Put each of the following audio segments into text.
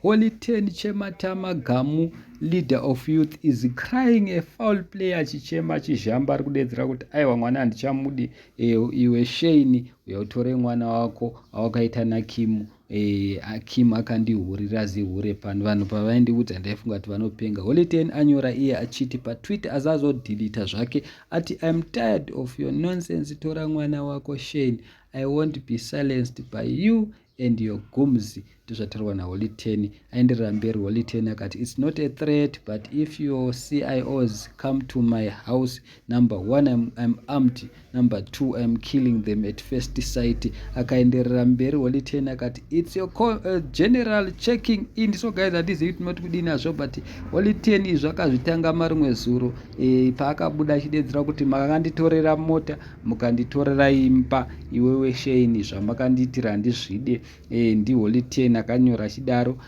Holy ten chematama gamu leader of youth is crying a foul player achichema achizhamba ari kudedzera kuti aiwa mwana handichamudi e, iwe sheini uyautore mwana wako awakaita nakimu e, akimu akandihurira zihure pano vanhu pavaindiudza ndaifunga kuti vanopenga holiten anyora iye achiti patwitter azazodhilita zvake ati im tired of your nonsense tora mwana wako shein i won't be silenced by you and your gums ndozvataurwa naholy ten aenderera mberi holy ten akati its not a threat but if your cios come to my house number one im, im armed number two im killing them at first sight akaenderera mberi holy ten akati its your uh, general checking in so guys handizivi kuti moti kudii nazvo but holy ten izvo akazvitanga marumwe zuro e, paakabuda achidedzera kuti makanditorera mota mukanditorera imba iwewe Shane zvamakandiitira handizvide eh, ndiHoly Ten akanyora achidaro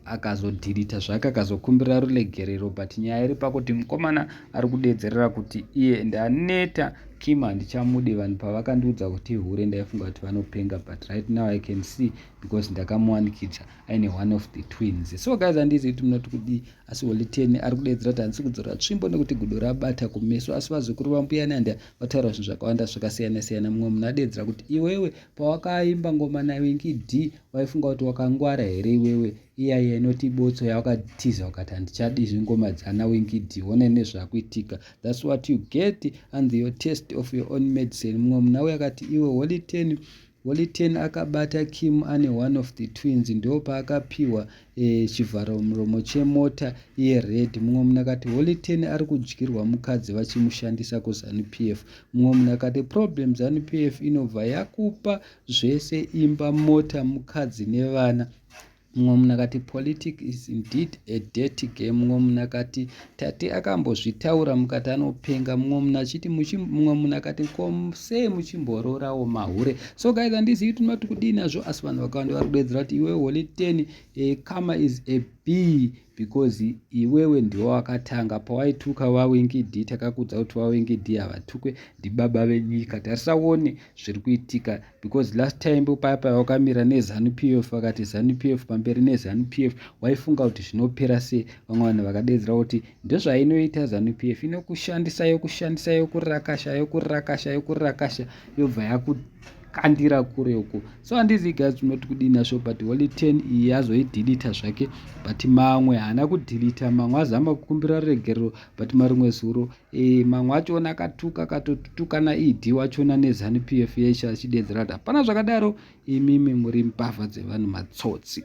akazodhirita zvake akazokumbira ruregerero but nyaya iri pakuti mukomana ari kudedzerera kuti iye ndaneta Kim handichamude vanhu pavakandiudza kuti ihure ndaifunga kuti vanopenga but right now I can see because ndakamuwanikidza aine one of the twins so guys handizivi kuti munoti kudii asi holiteni ari kudaidzira kuti handisi kudzora tsvimbo nekuti gudo rabata kumeso asi vazukuru vambuya nanda vataura zvinhu zvakawanda zvakasiyana siyana mumwe munhu adaidzira kuti iwewe pawakaimba ngoma nawenki d waifunga kuti wakangwara here iwewe iyaiya inoti ibotso yawakatiza ukati handichadi izvi ngoma dzana wenki d wona nezvakuitika thats what you get and your test of your own medicine mumwe munhu auya akati iwe holiteni Holy Ten akabata Kim ane one of the twins ndoopaakapihwa e, eh, chivharamuromo chemota yered. Mumwe munhu akati Holy Ten ari kudyirwa mukadzi vachimushandisa kuZanu PF. Mumwe munhu akati problem Zanu PF inobva yakupa zvese imba, mota, mukadzi nevana Mumwe munhu akati, Politics is indeed a dirty game. Mumwe munhu akati, Tate akambozvitaura mukati anopenga. Mumwe munhu achiti, mumwe munhu akati, Ko sei muchimboroorawo mahure? So guys, handizivi kuti ndinoti kudii nazvo, asi vanhu vakawanda vari kudeedzera kuti iwe holy ten, a eh, karma is a bee. because iwewe ndiwe wakatanga pawaituka vawingidi takakudza kuti vawingidi havatukwe ndibaba venyika tarisaone zviri kuitika because last time paya paya wakamira nezanu p f vakati zanu p f pamberi nezanu p f waifunga kuti zvinopera sei vamwe vanhu vakadeedzera kuti ndozvainoita zanu p f inokushandisa yokushandisa yokurakasha yokurakasha yokurakasha yobva yaku kandira kure uko so handizi guys unoti kudii nasvo but holy ten iyi azoidilita zvake but mamwe haana kudilita mamwe azama kukumbira ruregerero but marimwe zuro e, mamwe achona akatuka akatotukana ed wachona nezanu p f yesha achidedzera kuti hapana zvakadaro imimi muri mbavha dzevanhu matsotsi